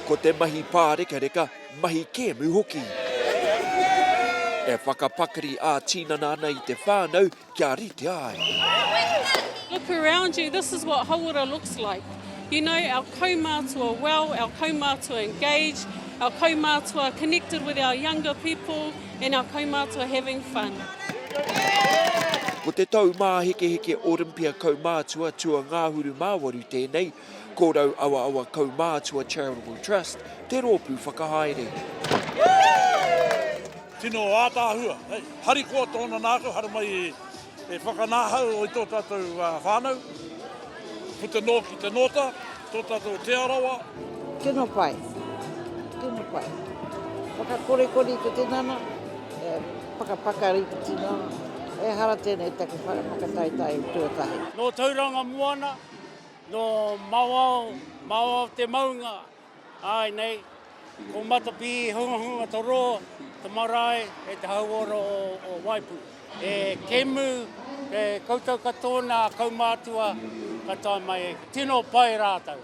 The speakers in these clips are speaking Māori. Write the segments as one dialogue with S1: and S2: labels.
S1: Ko te mahi pārekareka, mahi kēmu hoki. E whakapakari ā-tinana ana i te whānau kia rite ai.
S2: Look around you, this is what Hauora looks like. You know, our kaumātua well, our kaumātua engaged, our kaumātua connected with our younger people. And our kaumātua having fun.
S1: Ko te tau māhekeheke Olympia Kaumātua Tua Ngāhuru Māwaru tēnei, ko Rauawaawa Kaumātua Charitable Trust te rōpū whakahaere.
S3: Tino ātaahua, harikoa tōna nākau, haramai i. He whakanahau i tō tātou whānau, puta noa ki te nōta, tō tātou Te Arawa. Tino pai,
S4: tino pai. Whakakorekore i te tinana, e pakapakari i te tinana. Ehara tēnei take whakataetae tuatahi. Nō Tauranga
S5: Moana, nō Mawao, Mawao te maunga, Āe nei, ko Matapi i hungahunga to rō, te marae e te hauora o Waipu. E Kemu, e koutou katoa nā kaumātua ka tae mai e koe. Tino pai rātou.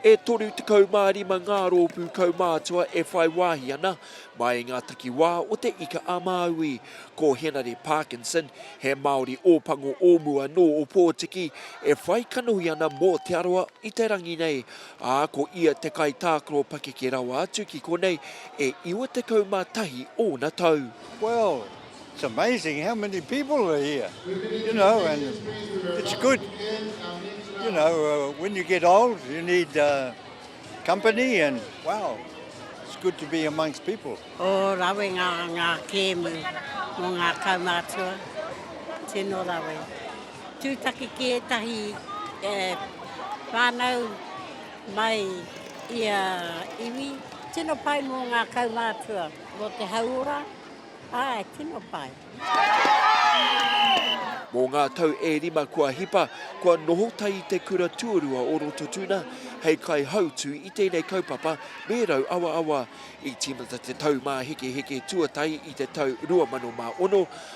S5: E
S1: 35 ngā rōpū kaumātua e whai wāhi ana mai i ngā takiwā o Te Ika-a-Māui. Ko Henare Parkinson, he Māori Ōpango o mua nō Ōpōtiki, e whai kanohi ana mō Te Arawa i te rangi nei. ā, ko ia te kaitākaro pakeke rawa atu ki konei, e 91 ōna tau. Well, it's
S6: amazing how many people are here, you know, and it's good, you know, when you get old you need company and, wow, it's good to be amongst people. Ō rawe
S4: ngā kēmu mō ngā kaumātua, tino rawe. Tūtaki ki ētahi whānau mai i a iwi. Tino pai mō ngā kaumātua, mō te hauora, āe, tino pai.
S1: Mō ngā tau e rima kua hipa, kua noho tahi i te kura tuarua o Rototuna hei kaihautū i tēnei kaupapa me Rauawaawa. I tīmata te taumāhekeheke tuatahi i te tau 2006,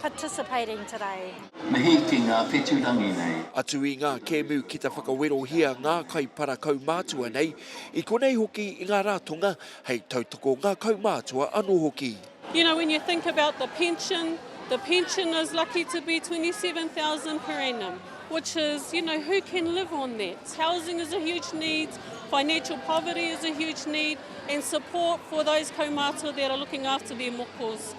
S7: participating today. Mihi ki ngā
S8: whetū rangi nei. Atu i ngā kēmu
S1: ki te whakawerohia ngā kaipara kaumātua nei, i konei hoki i ngā rātonga hei tautoko ngā kaumātua anō hoki. You know, when you think
S2: about the pension, the pension is lucky to be 27,000 per annum, which is, you know, who can live on that? Housing is a huge need, financial poverty is a huge need, and support for those kaumātua that are looking after their mokos.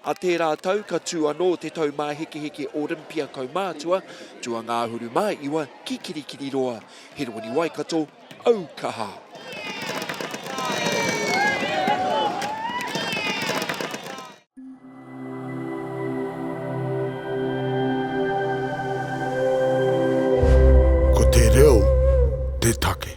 S1: A tērā tau ka tū anō te taumāhekeheke Olympia kaumātua, tuangāhuru māiwa ki Kirikiriroa. Herewini Waikato, au kaha!
S9: Ko te reo te take.